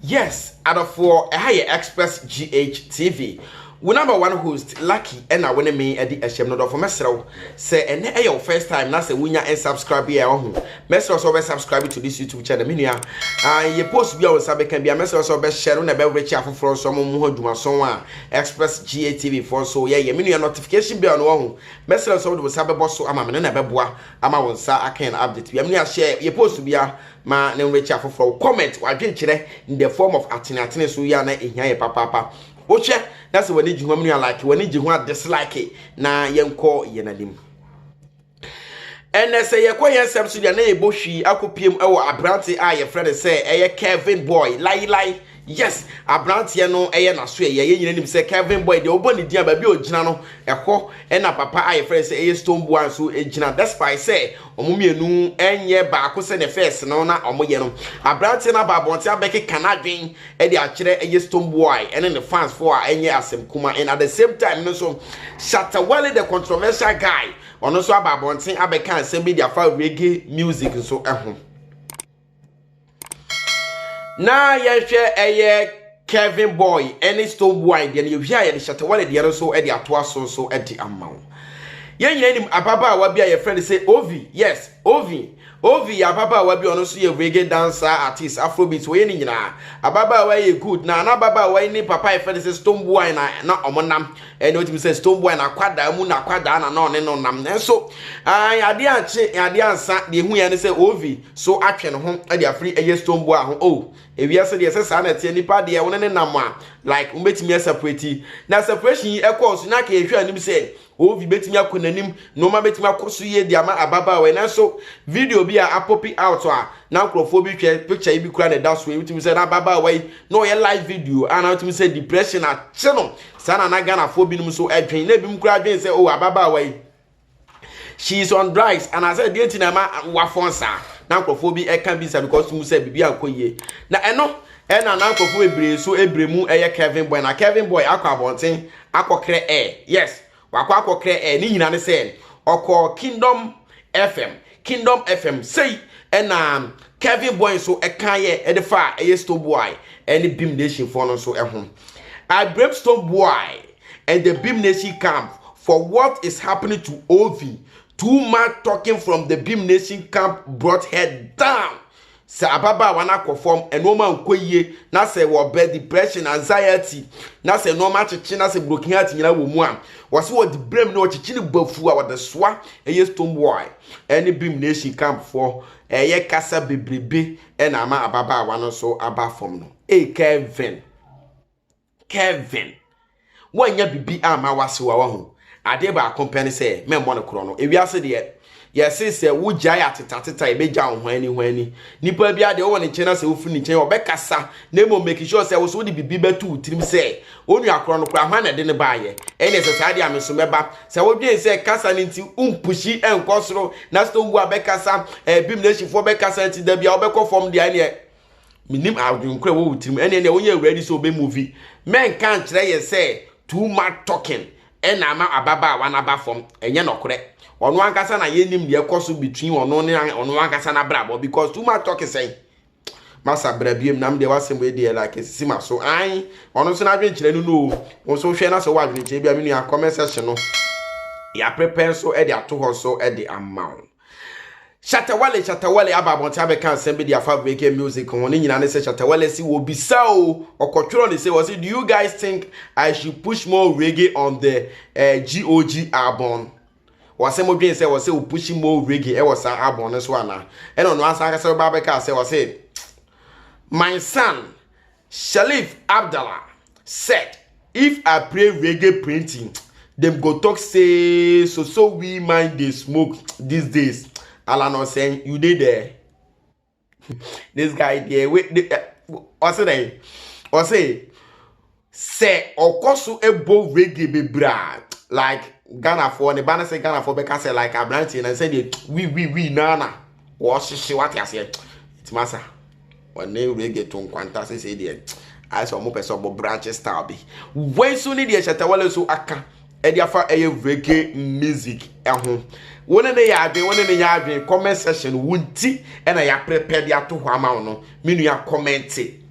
Yes, adɔfoɔ, ɛha yɛ Express GH TV. Wo number one host, Lucky, ɛna wo ne me ɛde ɛhyɛm no dɔfo mɛsrɛ wo. Sɛ ɛnɛ ɛyɛ wo first time na sɛ wonya unsubscribe yɛ ɔho. Mɛsrɛ sɛ wobɛsubscribe to this YouTube channel, me nua. Ah, yɛ post bi a wo nsa bɛka bi a mɛsrɛ sɛ wobɛhyɛ no na ɛbɛwrekye afoforɔ nso ama mu ho adwumason a Express GH TV foɔ nso yɛyɛ. Me nua notification bell no ɔho. Mɛsrɛ sɛ wode wo nsa bɛbɔ so ama me no na ɛbɛboa ama wo nsa aka yɛn update bia mene ahyɛ yɛ post bia ma ne nwekyɛ afoforɔ wo comment wadwenkyerɛ in the form of atene atene so yɛ a na ɛhia yɛ papaapa wohwɛ na sɛ w'ani gye ho amuni a like w'ani gye ho a dislike na yɛnkɔ yɛn anim ɛnɛ sɛ yɛkɔ yɛn nsɛm so deɛ na yɛbɔ hwii akɔpiem wɔ aberante a yɛfrɛ no sɛ ɛyɛ Kevin Boy Lai Lai Yes abranteɛ no yɛ nasoɛyɛ yɛn nyina nim sɛ Kelvin boy deɛ wɔbɔ ne din a baabi a ɔgyina no ɛhɔ ɛna papa a yɛfrɛ sɛ ɛyɛ stone boa nso gyina despite sɛ wɔn mmienu ɛnyɛ baako sɛ ne fɛs no na wɔn yɛ no abranteɛ no aba abɔnten abɛkeka n'adwen ɛde akyerɛ ɛyɛ stone boy ɛne ne fans fo a ɛnyɛ asɛm kuma and at the same time no nso Shatawale the controversial guy ɔno nso aba abɔnten abɛka nsɛm bi de afa reggae music nso ɛho. Na yɛhwɛ ɛyɛ Kevin Boy ne Stone Boy deɛ no yɛwie a yɛde Shatta Wale deɛ no nso de atoa so nso de ama wo yɛn nyinaa nim ababaawa bi a yɛfrɛ no sɛ Ovi yes Ovi Ovi yɛ ababaawa bi a ɔno nso yɛ reggae dancer artist afrobeat wɔyɛ ne nyinaa ababaawa yɛ good na na ababaawa yi ne papa yɛfrɛ no sɛ Stone Boy na na ɔmo nam ɛne ɔtumi sɛ Stone Boy na akwadaa mu na akwadaa na na ɔne no nam nanso adeɛ ankye adeɛ ansa deɛ ehu yɛn no sɛ Ovi so atwe ne ho de afiri ɛyɛ stone boa ho oh ewiase deɛ sɛ saa na ɛteɛ nipa deɛ wo ne ne nam a like wo betumi aseparate na separation yi ɛkɔɔ so na kɛyɛ hwɛ anim sɛ ovi betumi akɔ n'anim nneɛma betumi akɔ so yie de ama ababaawa nanso video bi a apopi out a na nkurɔfoɔ bi hwɛ picture yi bi kura na ɛda so yi wotumi sɛ na ababaawa yi na ɔyɛ live video a na wotumi sɛ depression akye no saa na na ghanafoɔ binom so ɛdwen na ebinom kura adwen sɛ oh ababaawa yi she is on drugs and I said deɛ nti na ɛma wafɔn saa na nkurɔfoɔ bi ɛka bi sa because mu sɛ biribi ankɔ yie na ɛno ɛna na nkurɔfoɔ bebree so ebire mu ɛyɛ Kevin boy na Kevin boy akɔ abɔnten akɔkrɛ ɛ yes wakɔ akɔkrɛ ɛ ne nyina ne sɛ ɔkɔ Kingdom FM Kingdom FM sei ɛna Kevin Boy nso ɛka yɛ ɛde fa ɛyɛ Stone Boy ɛne Beam Nation foɔ no nso ɛho. I blame Stone Boy and the Beam Nation camp for what is happening to Ovi. Too much talking from the Beam Nation camp brought her down. Sɛ ababaawa no akɔ fam, nneɛma nkɔ yie, na sɛ wɔ bɛ depression, anxiety, na sɛ nneɛma akyekye na sɛ broken heart nyinaa wɔ mu a, wɔse wɔde brɛ mu na wɔkyekye no bafu a wɔde soa ɛyɛ stone boy ɛne beam nation camp foɔ ɛyɛ kasa bebrebe ɛna ama ababaawa no so aba fam no. Ee Kevin. Kevin, woanya biribi amma w'asewa wahu. Adeɛ baako pɛ ne sɛ mɛmmɔ no korɔ no. Ewiase deɛ, yɛse sɛ wogyae atetateta ɛbɛgya wo hwanni hwanni. Nipa bi adeɛ wowɔ ne nkyɛn na sɛ wofiri ne nkyɛn ɔbɛkasa na mmom make sure sɛ wo so wode biribi bɛto wo tirim sɛ onua korɔ no koraa hwan na ɛde no baeɛ. Ɛnneɛ sɛ saa deɛ a me so mɛba. Sɛ wodwen sɛ kasa no nti wompushi nkɔ soro na sɛ wowu a bɛkasa, ɛɛ Bimnesifoɔ bɛkasa nti da biara wobɛkɔ fam deɛ a ɛnneɛ menim adwenkora a ɛwɔ wo tirim ɛne ɛne wonyɛ ready sɛ ɔbɛ movi mɛnka nkyerɛ yɛ sɛ too much talking ɛna ama ababaawa no aba fam ɛnyɛ nɔkorɛ ɔno ankasa na yɛnim deɛ ɛkɔ so between ɔno ne ɔno ankasa no abrabɔ because too much talking sɛn masa bra biem nam deɛ wasɛm wei deɛ like ɛsisi ma so an ɔno nso n'adwenkyerɛ no no wo nso hwɛ na sɛ wɔ adwenkyerɛ bi a me nua comment section no yɛaprepare nso ɛde ato hɔ nso ɛde ama wo Shatta Wale Shatta Wale aba abɔnten abɛka nsɛm bi de afa Breaking Music ho. Ne nyinaa ne sɛ Shatta Wale si wɔ bisa o, ɔkɔtwerɛ ne sɛ ɔse do you guys think I should push more reggae on the eh, GOG album? Ɔse mo dwen sɛ ɔse o push more reggae ɛwɔ saa album no so anaa? Ɛna ɔno ansa ankasa bɛba abɛka sɛ ɔse my son Sherif Abdallah said if I play reggae printing dem go talk say so so we mind dey smoke these days Allan Osen you dey there this guy there wey ɔse dɛn ɔse sɛ ɔkɔ so ɛbɔ reggae bebree a like ghanafoɔ ne ba no sɛ ghanafoɔ bɛka sɛ like aberanteɛ na sɛdeɛ wi wi wi naana wɔhyehye wate aseɛ nti masa Wɔne reggae to nkwanta sesei deɛ ayɛ sɛ wɔn pɛ sɛ wɔn branch style bi. Wei nso ne deɛ Shatawale nso aka ɛde afa ɛyɛ reggae music ɛho. Wɔne ne yɛ adwene, wɔne ne yɛ adwene comment section wo nti ɛna yɛaprepare de ato hɔ ama wo no. Me nua kɔmɛnte.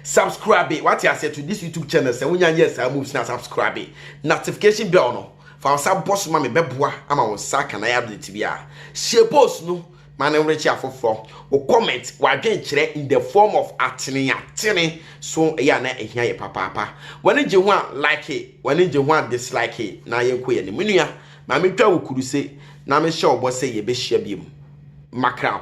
Subscribe, wate aseɛ to this YouTube channel sɛ wonya nyɛ saa moves na subscribe. Notification bell no, fa wo nsa bɔ so ma me bɛboa ama wo nsa aka na yɛ update biara. Share post no. Ma no werɛ kye afoforɔ. Wo comment, w'adwenkyerɛ in the form of ateneatene so ɛyɛ a na ɛhia yɛ papaapa. W'ani gye ho a, like, w'ani gye ho a, dislike, na yɛnkɔ yɛn anim. Me nua, ma mentwa wo kuruse na mehyɛ wo bɔ sɛ yɛbɛhyia biom. Mackerel.